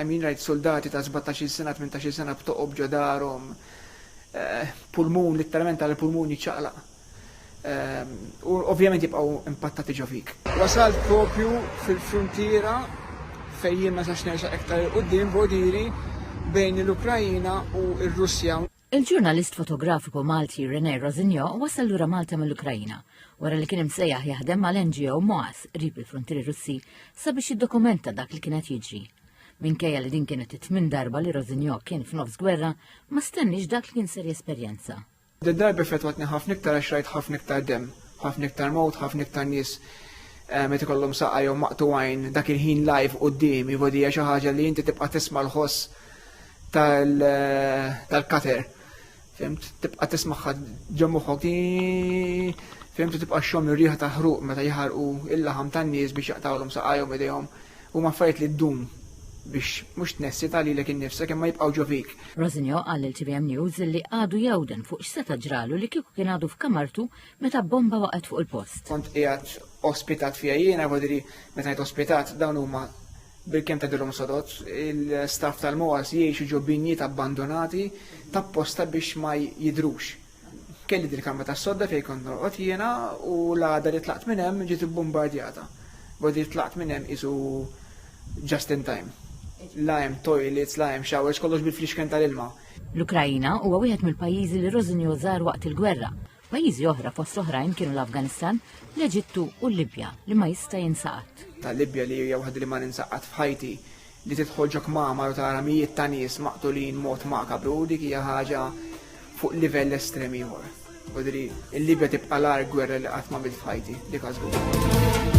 I mean rajt suldati ta' sbatax-il sena, tmintax-il sena b'toqob ġo darhom, pulmun, litteralment tara l-pulmun jiċċaqlaq. U ovvjament jibqgħu impattati ġo fik. Wasalt proprju fil-fruntiera fejn jien ma sax nersaq iktar 'il quddiem, b'għodiri, bejn l-Ukraina u r-Russja. Il-ġurnalist fotografiku Malti René Rosinio wasal lura Malta mill-Ukrajina wara li kien imsejjaħ jaħdem mal-NGO Moas qrib il-fruntieri Russi sabiex jiddokumenta dak li kien qed jiġri. Minkejja li din kienet it-tmien darba li Rosinio kien f'nofs gwerra, ma stenniex dak li kien ser jesperjenza. Din darba fetwatni ħafna iktar għax rajt ħafna iktar demm, ħafna iktar mewt, ħafna iktar nies eh, meta ikollhom saqajhom maqtugħin dak il-ħin live quddiemi, vodi hija xi ħaġa li inti tibqa' tisma' l-ħoss tal-kater. Fimt, tibqa tismaħħa ġemmuħok, fimt, tibqa xom ir-riħa ta' ħruq meta jħarqu il-laħam tan-nies biex jaqtawlhom saqajhom idejhom u maffariet li ddum biex mhux tnessi ta' lilek innifsek imma jibqgħu ġovik. Rosinio qal lil TVM News li għadu jawden fuq x'seta' ġralu li kieku kien għadu f'kamartu meta bomba waqgħet fuq il-post. Kont qiegħed ospitat fija jiena, vodiri meta jgħid ospitat dawn huma bil-kem tagħdilhom sodod, il-staff tal-MOAS jgħixu ġo binjiet abbandonati tapposta biex ma jidhrux. Kelli dil-kamra tas-sodda fejn kont norqod jiena u l-għada li tlaqt minn hemm ġiet ibbumbardjata. Bogħdi li tlaqt minn hemm qisu just in time. La hemm toilets, la hemm showers, kollox bil-flixken tal-ilma. L-Ukraina huwa wieħed mill-pajjiżi li Rożinjo żar waqt il-gwerra Pajjiżi oħra fost l-oħrajn kienu l-Afganistan, l-Eġittu u l-Libja li ma jista' jinsa qatt. Tal-Libja li hija waħda li ma ninsa qatt f'ħajti li tidħol ġo kmamar u tara mijiet ta' nies maqtulin mod makabru dik hija ħaġa fuq livell estrem ieħor. U diri, il-Libja tibqa' l-ar gwerra li qatt ma bil fajti, dik għażgur.